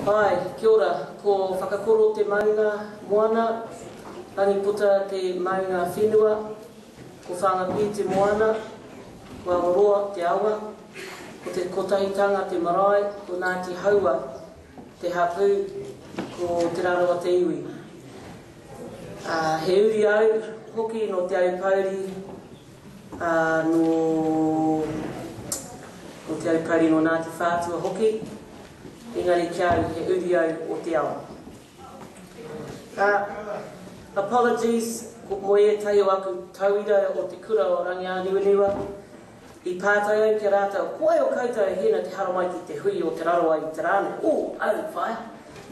Hi, kia ora, ko Whakakoro te maunga moana, Ranipota te maunga whenua, ko Whangapi te moana, ko Awaroa te awa, ko Te Kotahitanga te marae, ko Ngāti Haua te hapū, ko Te Rarawa te iwi. Ā, he uri au hoki nō Te Aupōuri, ā, nō, nō Te Aupōuri, nō Ngāti Whātua hoki, engari ki au he uri au o te ao. Ā, apologies, ko, mō ētahi o aku tauira o te kura o Rangiāniwaniwa, I pātai au ki a rātou, Ko wai o koutou e hina te haramai ki te hui o Te Rarawa i te rā nei? O, aru whaea.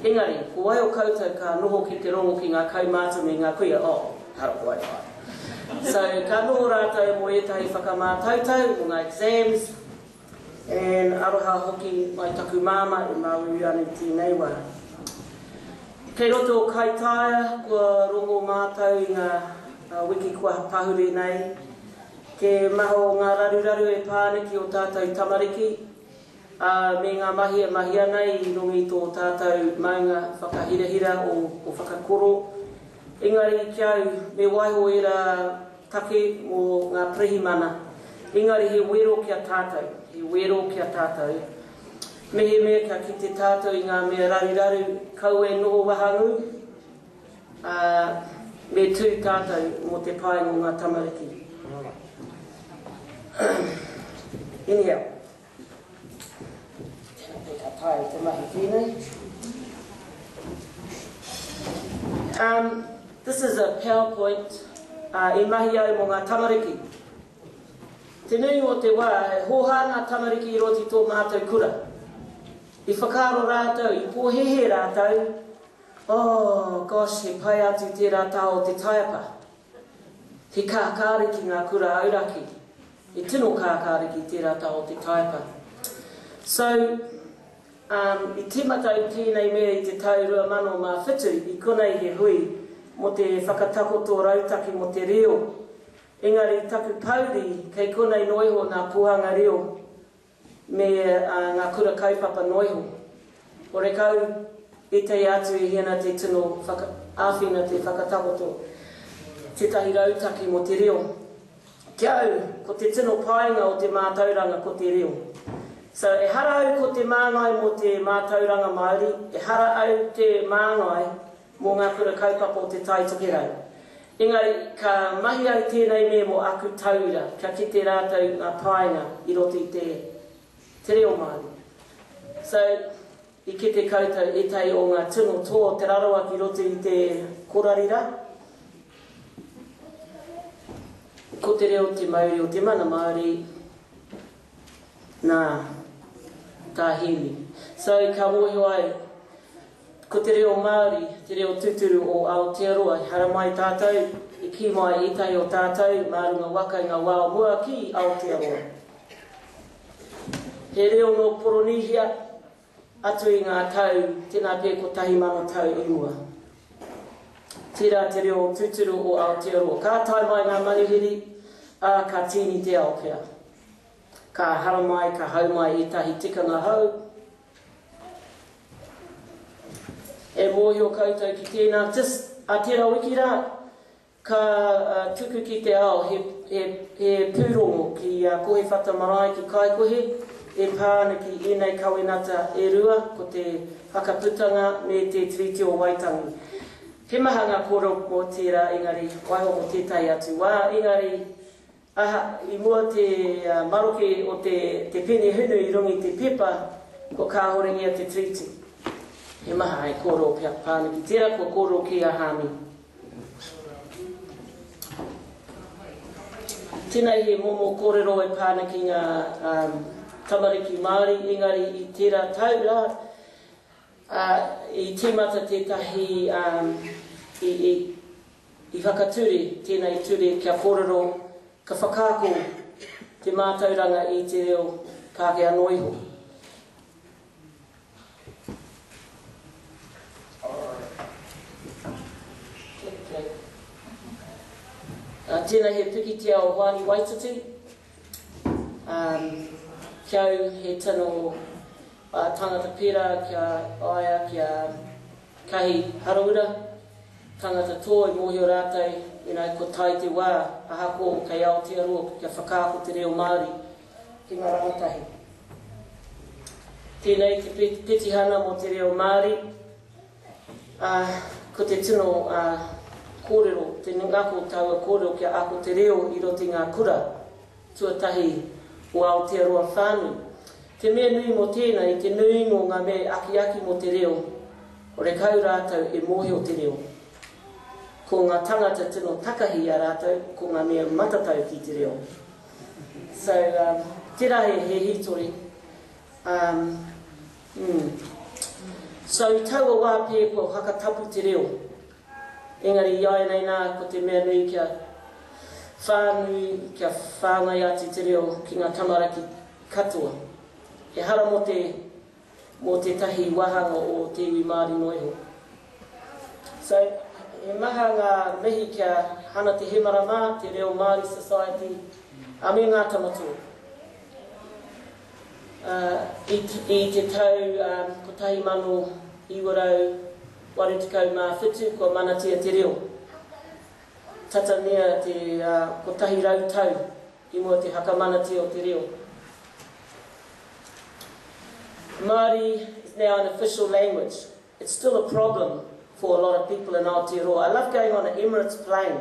Engari, ko wai o koutou ka noho ki te rongo ki ngā kaumātua me ngā kuia? O, aru ko wai whaea. So, ka noho rātou mō ētahi whakamātautau, mō ngā exams, and aroha hoki mai taku māmā e māuiui ana i tēnei wā. Kei roto o Kaitaia, kua rongo mātou i ngā wiki kua pahure nei, Te maha o ngā raruraru e pā ana ki ō tātou tamariki, ā, me ngā mahi e mahi ana i runga i tō tātou maunga whakahirahira o whakakoro. Engari ki a au, me waiho ērā take mō ngā pirihimana, engari he wero ki a tātou, he wero ki a tātou, mehemea kia kite tātou i ngā mea raruraru, kaua e noho wahangū, Ā, me tū tātou mō te pae mō ngā tamariki. Inihau, tēnā pea ka taea te mahi pēnei. Um, this is a PowerPoint ā, i mahi au mō ngā tamariki. Te nui o te wā, e hōhā ngā tamariki i roto i tō mātou kura. I whakaaro rātou, i pōhēhē rātou, Oh gosh he pai atu tērā taha o te taiapa. He kākāri ki ngā kura auraki. He tino kākāri ki tērā taha o te taiapa. So um i tīmata ai tēnei mea i te tau 2007 i konei he hui mō te whakatakoto rautaki mō te reo. Engari taku pouri kei konei noa iho nā Pōhanga Reo me ngā kura kaupapa noa iho. Horekau i teia atu e Hiana te tino āwhina te whakatakoto tētahi rautaki mō te reo. Ki a au, ko te tino painga o te mātauranga ko te reo. So, ehara au ko te māngai mō te mātauranga Māori, ehara au te māngai mō ngā kura kaupapa o Te Tai Tokerau. Engari, ka mahi ai tēnei me mō aku tauira kia kite rātou ngā painga i roto i te te reo Māori. So, i kite koutou ētahi o ngā tino tō Te Rarawa ki roto i te korari rā. Ko te reo te mauri o te mana Māori, nā, tā Hēmi. So, ka mōhio ai, Ko te reo Māori, te reo tūturu o Aotearoa, e haramai tātou, e kī mai ētahi o tātou mā runga waka i ngā wā o mua ki Aotearoa. He reo nō Poronīhia atu i ngā tau, tēnā pea kotahi mano tau i mua. Tērā te reo tūturu o Aotearoa. Ka tae mai ngā manuhiri, ā, ka tīni te ao pea. Ka haramai, ka hau mai ētahi tikanga hou, E mōhio koutou ki tēnā, just a tērā wiki rā, ka tuku ki te ao he, he, he pūrongo ki a Kohewhata Marae ki Kaikohe e pā ana ki ēnei kawenata e rua, ko te whakaputanga me te Tiriti o Waitangi. He maha ngā kōrero mō tērā engari, waiho mō tētahi atu wā, engari Aha, i mua te maroke o te te pene hunu i runga i te pepa, kua kāhoringia te treaty. He maha hai kōrero ki a Pāniki, tērā kua kōrero ki a Hāmi. Tēnei he momo kōrero e Pāniki ngā tamariki Māori, engari i tērā tau rā, i tīmata tētahi, i, i, I whakature tēnei ture kia kōrero, ka whakaako te mātauranga i te reo Pākehā noa iho. Tēnei he pikitia o Hoani Waititi. Ki au he tino tāngata pērā ki a ia, ki a. Kahi haraura, tangata tō e mōhio rātou ina i ko tai te wā, ahako kei Aotearoa kia whakaako te reo Māori ki nga rangatahi. Tēnei te petihana mō te reo Māori, ā, ko te tino ā, kōrero, te ngako taua kōrero kia ako te reo i roto i ngā kura. Tuatahi o Aotearoa whānui. Te mea nui mō tēnā, i te nuinga o ngā mea e akiaki mō te reo, horekau rātou e mōhio te reo. Ko ngā tangata tino takahi i a rātou, ko ngā mea matatau ki te reo. So, um, tērā he, he hītori. Um, mm. So, i taua wā pē kua whakatapu te reo. Engari i āianei nā, ko te mea nui kia whānui, kia whāngai atu te reo ki ngā tamaraki katoa. Ehara mō te, mō tētahi wāhanga o te iwi Māori noa iho. So, he maha ngā mihi ki a Hana Te Hemara mā, Te Reo Māori Society, ā, me Ngā Tamatoa. Ā, i, i te tau, ā, 1900, 87 kua manatia te reo. Tata mea te kotahi rau tau i mua te whakamanatia o te reo. Māori is now an official language. It's still a problem for a lot of people in Aotearoa. I love going on an Emirates plane.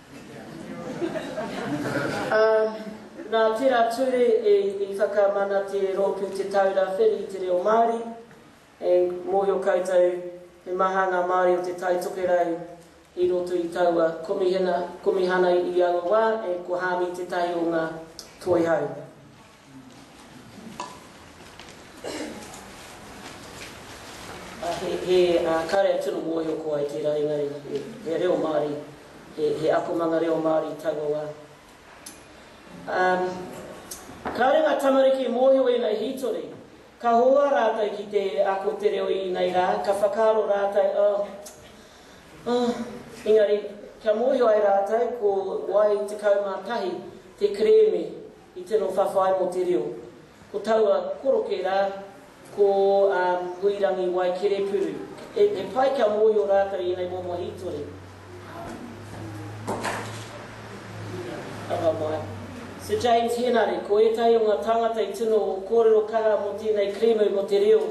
Ā, nā tērā ture i whakamana te Rōpū Te Taura Whiri i te Reo Māori, e mōhio koutou he maha ngā Māori o Te Tai Tokerau i roto i taua Komihana, Komihana i aua wā, e ko Hāmi tētahi o ngā Toihau. He karea tino mōhio koa i tērā ringaringa, he reo Māori, he akomanga reo Māori i taua wā. Kāore ngā tamariki e mōhio ēnei hītori, ka hohoa rātou ki te ako te reo i ēnei rā, ka whakaaro rātou, oh, oh, engari kia mōhio ai rātou ko wai 11 te kerēme I tino whawhai mō te reo. Ko taua koroke rā, ko a Huirangi Waikerepuru. He pai kia mōhio rātou i ēnei momo hītori. Anga mai. Sir James Henare, ko ētahi o ngā tāngata i tino kōrero kaha mō tēnei kerēme mō te reo,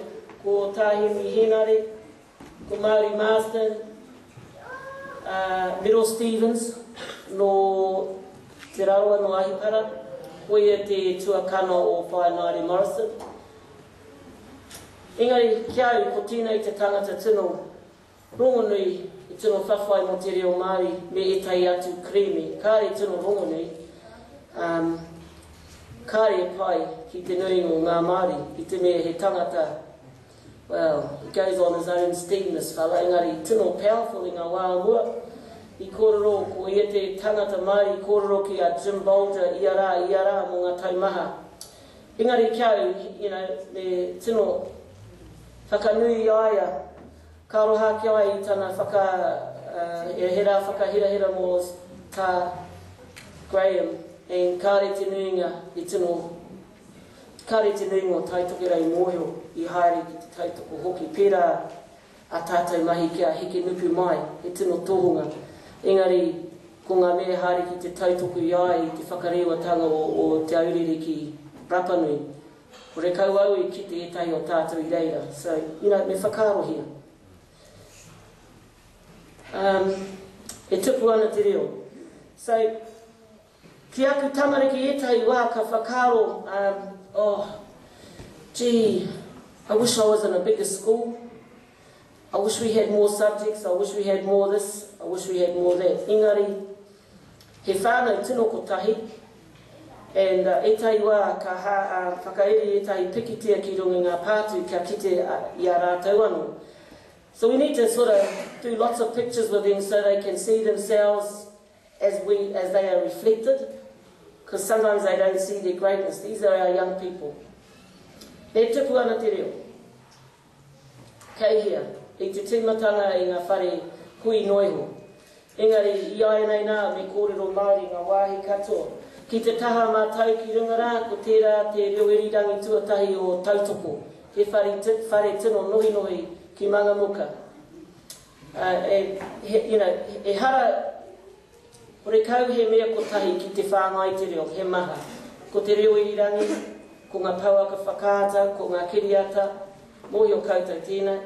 ko Tā Henry Henare, Ko Mauri Marsden, ā, Miro Stephens nō Te Rarawa, nō Ahipara, koia te tuakana o Whāināre Morrison. Engari, ki a au, ko tēnei te tangata tino rongonui, i tino whawhai mō te reo Māori me ētahi atu kerēme, kāre tino rongonui, ā, kāre e pai ki te nuinga o ngā Māori, i te mea he tangata Well, he goes on his own steam this fella, engari tino powerful i nga wa a mua. I korero, ko ia te tangata mai i korero ki a Jim Bolger ia ra, ia ra mo nga tau maha. Engari ki au, you know, me tino whakanui i a ia, ka aroha ake ai i tana whaka, uh, he ra whakahirahira mo ta Graham, and kare te nuinga i tino Kāore te nuinga o Tai Tokerau i mōhio, i haere ki te tautoko hoki, pērā ā tātou mahi kia heke nuku mai he tino tohunga, engari ko ngā mea e haere ki te tautoko i a ia i te whakarewatānga o Te Aurere ki Rapanui. Ko Rekau au i kite ētahi o tātou i reira, so, you know, me whakaarohia. Um, e tupu ana te reo. So, Ki aku tamariki etahi wa ka whakaaro um oh gee I wish I was in a bigger school, I wish we had more subjects, I wish we had more this, I wish we had more that engari he whanau tino kotahi and etahi wa ka whakairi etahi pikitia ki runga i nga pātu kia kite i a ratou ano so we need to sort of do lots of pictures with them so they can see themselves as we as they are reflected cos sometimes they don't see their greatness these are our young people e tupu ana te reo kei hea i te timatanga i nga whare hui no iho engari i ainei na me korero maori nga wahi katoa ki te taha ma tau ki runga ra ko tera te reo irirangi tuatahi o tautoko he whare tino nohinohi ki mangamuka you know, ehara horekau he mea kotahi ki te whāngai te reo, he maha. Ko te reo irirangi, ko ngā pouaka whakaata, ko ngā kiriata, mōhio koutou tēnei.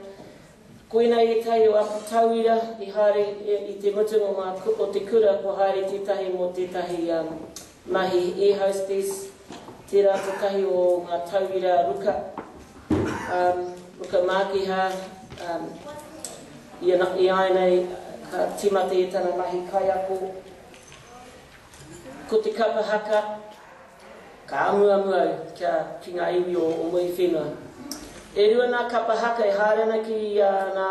Koinei ētahi o aku tauira i haere i te mutunga o te kura kua haere tētahi mō tētahi Mahi E Hostess, tērā tētahi o ngā tauira ruka, ruka mākiha i āinei ka tīmata i tana mahi kaiako. Ko te kapa haka, ka amuamu au kia ki ngā iwi o Muiwhenua. E rua nā kapa haka e haere ana ki ngā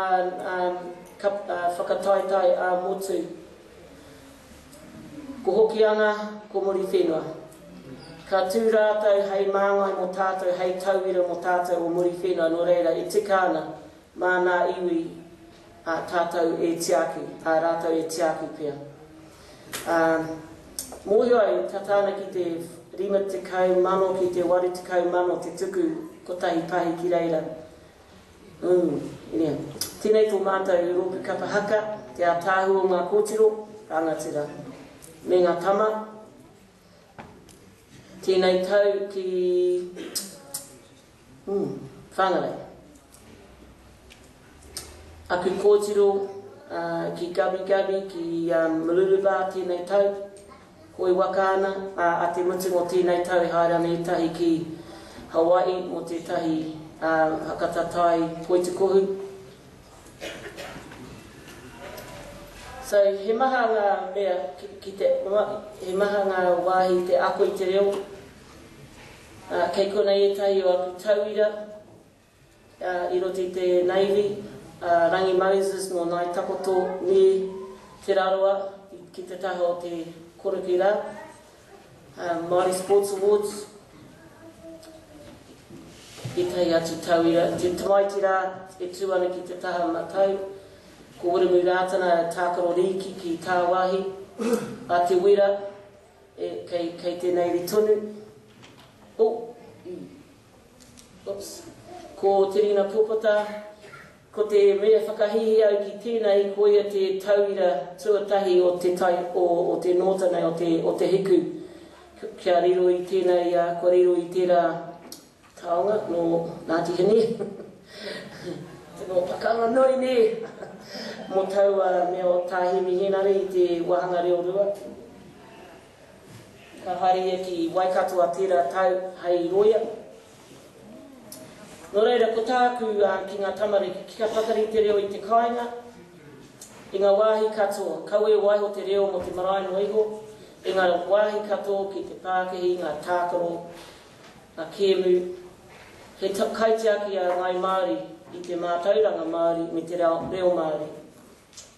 whakataetae ā-motu. Ko Hokianga, ko Muriwhenua. Ka tū rātou hei māngai mō tātou, hei tauira mō tātou o Muriwhenua, nō reira e tika ana mānā iwi ā tātou e tiaki, ā rātou e tiaki pea. Ā, mōhio au, tata ana ki te 50 mano ki te 80 mano te tuku kotahi pahi ki reira. Umm, nē. Tēnei tō mātou rōpū kapa haka, te ātaahua o ngā kōtiro, rangatira, me ngā tama, tēnei tau ki, umm, Whangarei. Aku kōtiro, ā, ki Gubby Gubby, ki, umm, Mooloolaba tēnei tau. Koi waka ana, ā, a te mutunga o tēnei tau e haere ana ētahi ki Hawaii mō tētahi hakata tai poitukohu. So, he maha ngā mea ki te, he maha ngā wāhi te ako i te reo. Kei konei ētahi o aku tauira. i roto i te Navy, a Rangi Moses nō Ngāi Takoto me Te Rarawa ki te taha o te korokē rā, Māori Sports Awards, ētahi atu tauira. Te tamaiti rā e tū ana ki te taha matau, ko Wiremu Rātana tākaro rīki ki tāwāhi, a Te Wera, kei tēnei ri tonu. Oops. Ko Te Rina Popota, ko te mea whakahihi au ki tēnei ko ia te tauira tuatahi o te tai o o te nōta nei o te o te hiku kia riro i tēnei a kua riro i tērā taonga nō Ngāti Hine nō Whakaronui nē mō taua mea o Tā Hemi Hēnare i te wāhanga reo rua. Ka haere ia ki Waikato a tērā tau hei roia. Nō reira, ko tāku ki ngā tamariki, kia pakari te reo i te kāinga, i ngā wāhi katoa, kaua e waiho te reo mō te marae noa iho, i ngā wāhi katoa ki te pākihi, ngā tākaro, ngā kēmu. He kaitiaki a Ngāi Māori i te mātauranga Māori me te reo Māori.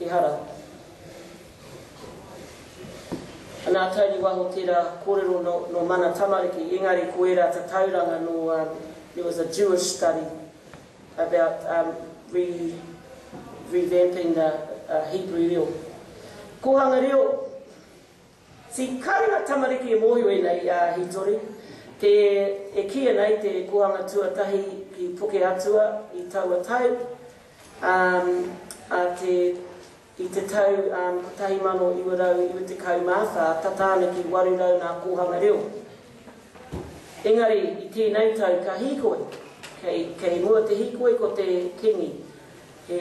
Ehara. Anā, Tony Waho tērā kōrero nō, nō Mana Tamariki, engari ko ērā tatauranga nō, um, there was a Jewish study about, um, re, revamping the, uh, Hebrew reo. Kōhanga reo. Te kāinga tamariki e mōhio e nei i a Hītori, te, e kīia nei te Kohanga Tuatahi ki Puke Atua i taua tau, ā, ā te, i te tau, ā, 1994, tata ana ki 800 ngā kōhanga reo. Engari, i tēnei tau, ka hīkoi, kei, kei mua te hīkoi ko te Kīngi, he,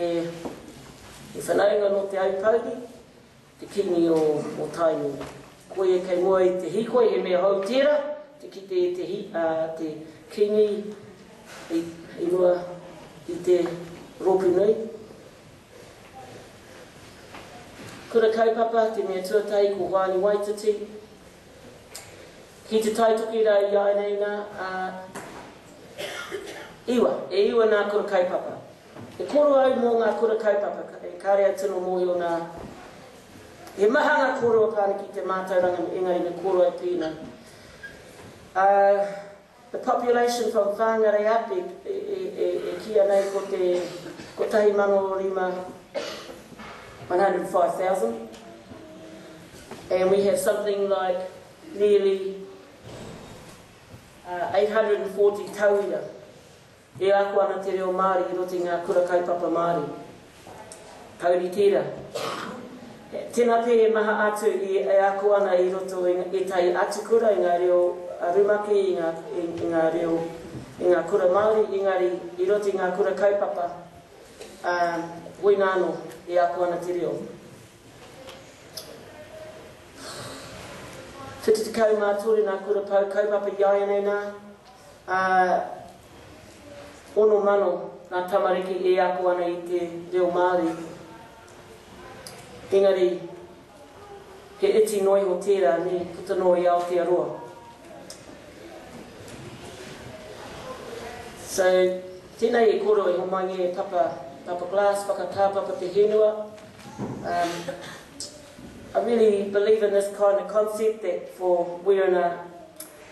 he whanaunga nō Te Aupōuri, Te Kingi o Tainui. Koia kei mua i te hīkoi, he mea hou tērā te kite e te te Kingi i mua i te rōpū nui. Kura Kaupapa, te mea tuatahi ko Hoani Waititi. Ki te tae toki rā i āineina, ā, iwa, e iwa nā Kura Kaupapa. E koro au mō ngā kura kaupapa, kāre au tino mōhio nā, he maha ngā kōrero a Pāniki i te mātauranga engari me koro au pēnā. Ā, the population from Whāngarei up e, e, e, e, e kīia nei ko te 1,500, 105,000, and we have something like nearly uh, 840 tauira. E ako ana te reo Māori i roto i ngā kura kaupapa Māori. Taurite ra. Tena pe e maha atu i e ako ana i roto i etahi atu kura i nga reo rumaki i nga i nga reo i nga kura Maori engari i roto i nga kura kaupapa a wina ano e ako ana te reo. 73 na kura pau kaupapa i aia nei na Ā, ono mano ngā tamariki e ako ana i te reo Māori, engari he iti noa iho tērā, nē, puta noa i Aotearoa. So, tēnei e kōrero e homai e Papa, Papa Glass, whakatā Papa Te Henua. Um, I really believe in this kind of concept that for we're in a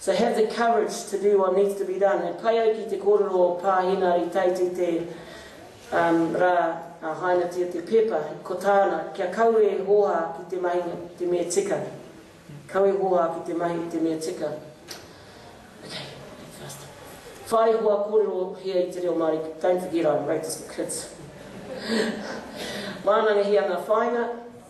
So have the courage to do what needs to be done. E pai ai ki te kōrero o Pā Hināri Tait i te rā a hainatia te pepa, ko tāna, kia kau e hōhā ki te mahi te mea tika. Kau e hōhā ki te mahi te mea tika. Okay, faster. Whai hoa kōrero hea i te reo Māori, don't forget I wrote this for kids. Wānangahia ngā whāinga,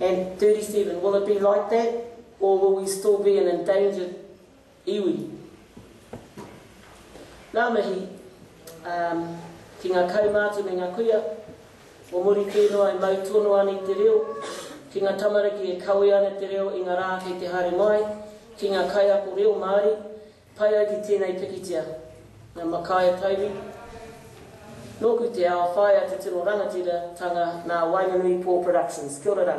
And 37, will it be like that or will we still be an endangered iwi? Ngā mihi um, ki ngā kaumātua me ngā kuia, o muri kē noa e mau tono ana i te reo, ki ngā tamariki e kawe ana te reo i ngā rā kei te haere mai, ki ngā kaiako reo Māori, Pai ai ki tēnei pikitia, nā Makaia Tairi, nōku te ao, whaea te tino rangatiratanga nā Wainganui Paul Productions. Kia ora rā.